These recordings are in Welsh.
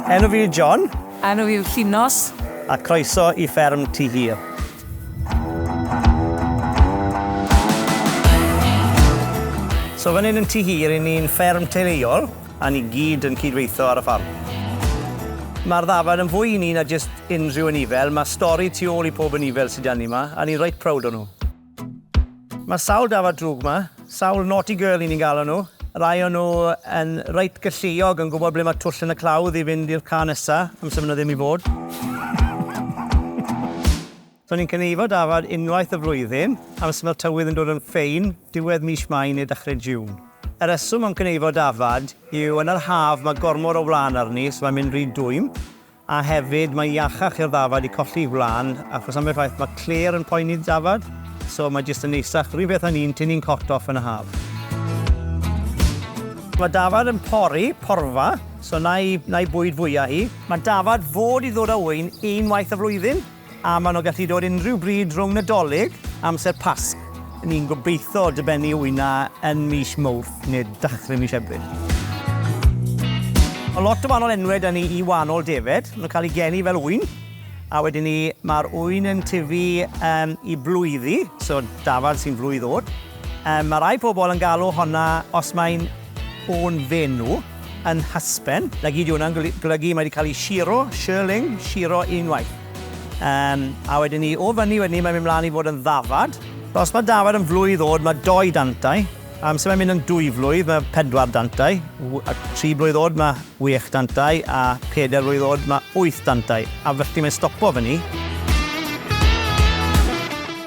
Enw fi yw John. Enw fi yw Llinos. A croeso i fferm Tŷ Hir. So fan hyn yn Tŷ Hir, i ni'n fferm teuluol, a ni gyd yn cydweithio ar y ffarm. Mae'r ddafad yn fwy i ni na jyst unrhyw anifail, mae stori tu ôl i pob anifail sydd 'da ni 'ma, a ni'n reit proud o nhw. Mae sawl dafad drwg 'ma, sawl naughty girl i ni'n galw nhw. Rai o nhw yn reit galluog, yn gwybod ble mae twll yn y clawdd i fynd i'r car nesa, amser maen nhw ddim i fod. So ni'n cynulleidfa dafad unwaith y flwyddyn, amser mae'r tywydd yn dod yn ffein, diwedd mis Mai neu dechrau June. Y rheswm am cynulleidfa dafad yw yn yr haf mae gormod o wlân arni, so mae'n mynd rhy dwym. A hefyd mae iachach i'r ddafad i colli wlân achos ambell waith mae clêr yn poeni'r dafad, so mae jyst yn neisach, run peth â ni'n tynnu'n cot off yn y haf. Mae dafad yn pori, porfa, so 'na i 'na i bwyd fwya hi. Mae dafad fod i ddod â ŵyn unwaith y flwyddyn. A maen nhw'n gallu dod unrhyw bryd rhwng Nadolig a amser Pasg. Ni'n gobeithio dybennu wyna yn mis Mawrth neu dachrau mis Ebrill. Mae lot o wahanol enwau da ni i wahanol defaid. Maen nhw'n cael eu geni fel ŵyn, a wedyn ni mae'r ŵyn yn tyfu yn i blwyddi, so dafad sy'n flwydd oed. Mae rhai pobl yn galw honna, os mae'n o'n fenw yn nhysben. Lagi, dyw hwnna'n golygu mae 'di cael ei shiro, shirling, shiro unwaith. Yym, a wedyn ni, o fyny wedyn ni, mae'n mynd mlaen i fod yn ddafad. Os mae dafad yn flwydd oed, mae dou dantau. Amser mae'n mynd yn dwy flwydd, mae pedwar dantau. A tri blwydd oed, mae wech dantau, a peder blwydd oed, mae wyth dantau. A felly mae'n stopo fyny.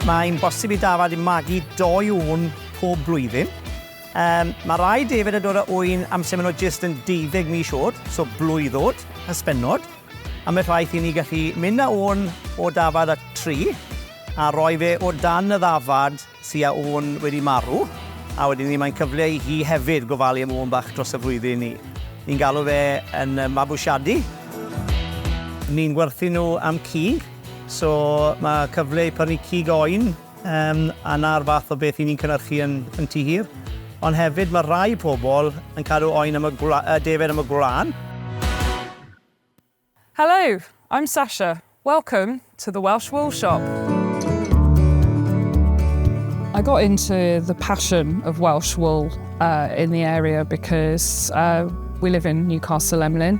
Mae'n bosib i dafad i magu dou ŵyn pob blwyddyn. Yym, mae rhai defaid yn dod â ŵyn amser maen nhw jyst yn deuddeg mis oed, so blwydd oed, hysbennod. Ambell waith i ni gallu mynd â ŵyn o dafad a tri, a rhoi fe o dan y ddafad sy â ŵyn wedi marw, a wedyn ni mae'n cyfle i hi hefyd gofalu am ŵyn bach dros y flwyddyn ni. Ni'n galw fe yn yy mabwysiadu. Ni'n gwerthu nhw am cig, so mae cyfle i prynu cig oen. Yym, a 'na'r fath o beth 'yn ni'n cynyrchu yn yn Tŷ Hir. Ond hefyd ma' rai pobl yn cadw oen am y gwla- yy defaid am y gwlân. Hello, I'm Sasha, welcome to the Welsh Wool Shop. I got into the passion of Welsh Wool in the area because we live in Newcastle Emlyn.